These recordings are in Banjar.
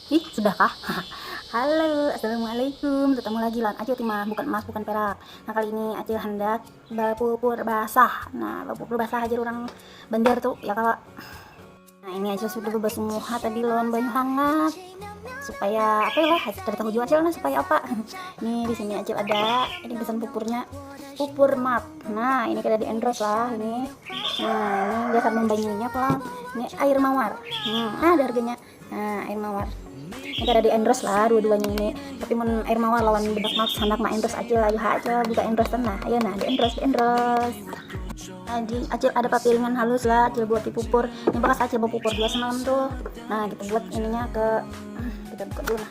Ih sudah kah? Halo, assalamualaikum. Bertemu lagi lawan Acil Timah, bukan emas, bukan perak. Nah kali ini Acil hendak bapupur basah. Nah bapupur basah aja orang Banjar tuh ya kalau. Nah ini Acil sudah bebasuh muha tadi lawan banyu hangat supaya apa ya lah Acil tahu juga Acil nah supaya apa. Ini di sini Acil ada ini pesan pupurnya pupur map. nah ini kita di endorse lah ini nah ini dasar membanyunya pelan ini air mawar hmm, ah, ada harganya nah air mawar ini kada di endorse lah dua-duanya ini tapi mun air mawar lawan bedak mak sanak mak endorse acil ayo ha acil buka endorse nah ayo nah di endorse di endorse Nah, di acil ada papiringan halus lah acil buat di pupur ini bekas acil mau pupur dua semalam tuh nah kita buat ininya ke hmm, kita buka dulu lah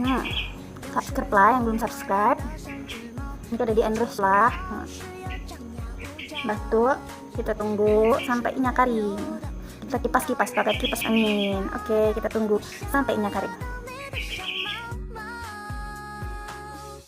nah subscribe lah yang belum subscribe ini ada di endorse lah nah. batu kita tunggu sampai inya kering kita kipas-kipas pakai kipas angin oke kita tunggu sampai inya kering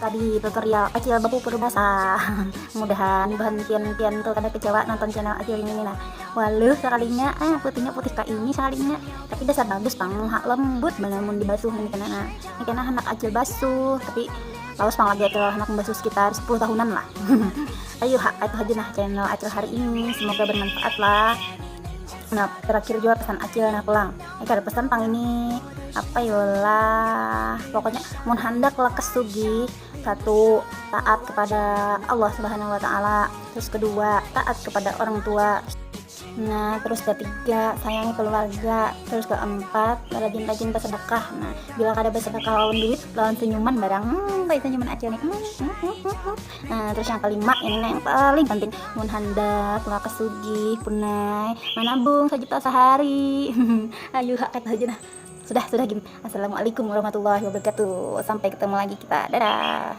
Tadi tutorial acil bapupur basah. Mudahan bahan pian-pian tuh kada kecewa nonton channel acil ini nah. Waluh sekalinya ah putihnya putih kayak ini sekalinya. Tapi dasar bagus pang hak lembut banar mun dibasuh ini kena nah. Ini kena anak acil basuh tapi lawas pang lagi acil anak basuh sekitar 10 tahunan lah. Ayo hak itu aja nah channel acil hari ini. Semoga bermanfaat lah. Nah terakhir juga pesan acil nah pulang. ini kada pesan pang ini apa yolah pokoknya mun handak lekas sugih satu taat kepada Allah subhanahu wa ta'ala terus kedua taat kepada orang tua Nah, terus ketiga, sayangi keluarga. Terus keempat, rajin-rajin bersedekah. Nah, bila kada bersedekah lawan duit, lawan senyuman barang. Hmm, senyuman acil nih. Hmm, hmm, hmm, hmm. Nah, terus yang kelima ini nah yang paling penting mun handak lah kesugih punai manabung sejuta sehari ayo hak kata aja nah sudah sudah gini assalamualaikum warahmatullahi wabarakatuh sampai ketemu lagi kita dadah